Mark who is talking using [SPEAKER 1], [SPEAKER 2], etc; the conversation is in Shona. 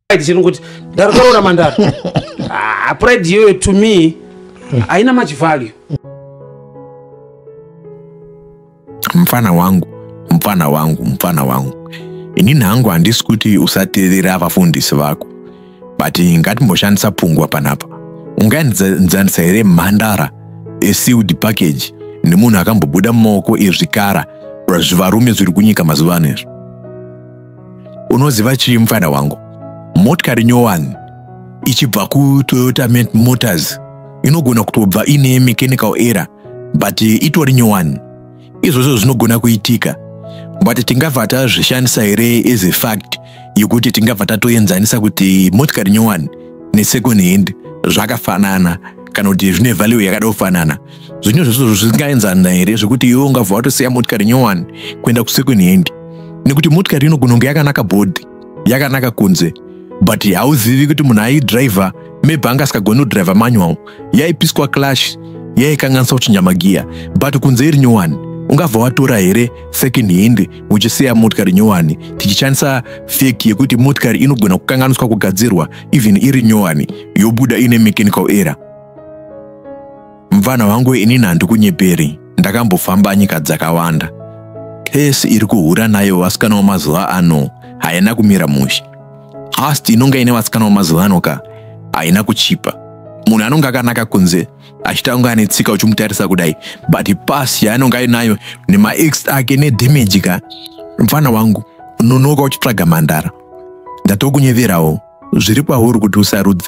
[SPEAKER 1] pride chiri kuti ndarikoroora mandara ah, pride iyoyo to me haina much value
[SPEAKER 2] mfana wangu mfana wangu mfana wangu inini hangu handisi kuti usateerera vafundisi vako but ngatimboshandisa pungwa panapa ungaenzanisa here mhandara esealed package nemunhu akambobuda mumaoko ezvikara zvivarume zviri kunyika mazuva ano izvi unoziva chii mufana wangu motikari nyowani ichibva kutoyota motors inogona kutobva ine mechanical error but itori nyowani izvozvo zvinogona kuitika but tingabva tazvishandisa here as a fact yekuti tingabva tatoenzanisa kuti motikari nyowani nesecond hand zvakafanana kana kuti zvine value yakada kufanana zvinhu zvese zvisingaenzana here zvekuti iwe ungabva watosiya motikari nyowani kuenda kusecond hand nekuti motikari inogona kunge yakanaka bhodhi yakanaka kunze but hauzivi kuti munhu aidriver maybe anga asikagoni kudriver manual yaipiswa clash yaikanganisa kuchinja magiya but kunze iri nyowani ungabva watora here second hand uchisiya motikari nyowani tichishandisa fek yekuti motikari inogona kukanganiswa kugadzirwa even iri nyowani yobuda ine mechanical error Mvana wangu inini handikunyeperi, ndakambofamba nyika dzakawanda. Pesi iri kuhura nayo vasikana wamazuva ano haina kumira mushe. Past inonga ine vasikana wamazuva ano ka haina kuchipa. Munhu anonga akanaka kunze achita kunge ane tsika uchimutarisa kudai but pasi yaanonga ainayo nemaex ake nedamage ka mfana wangu nonoka uchitsvaga mhandara ndatokunyeverawo zviri pauri kuti usarudze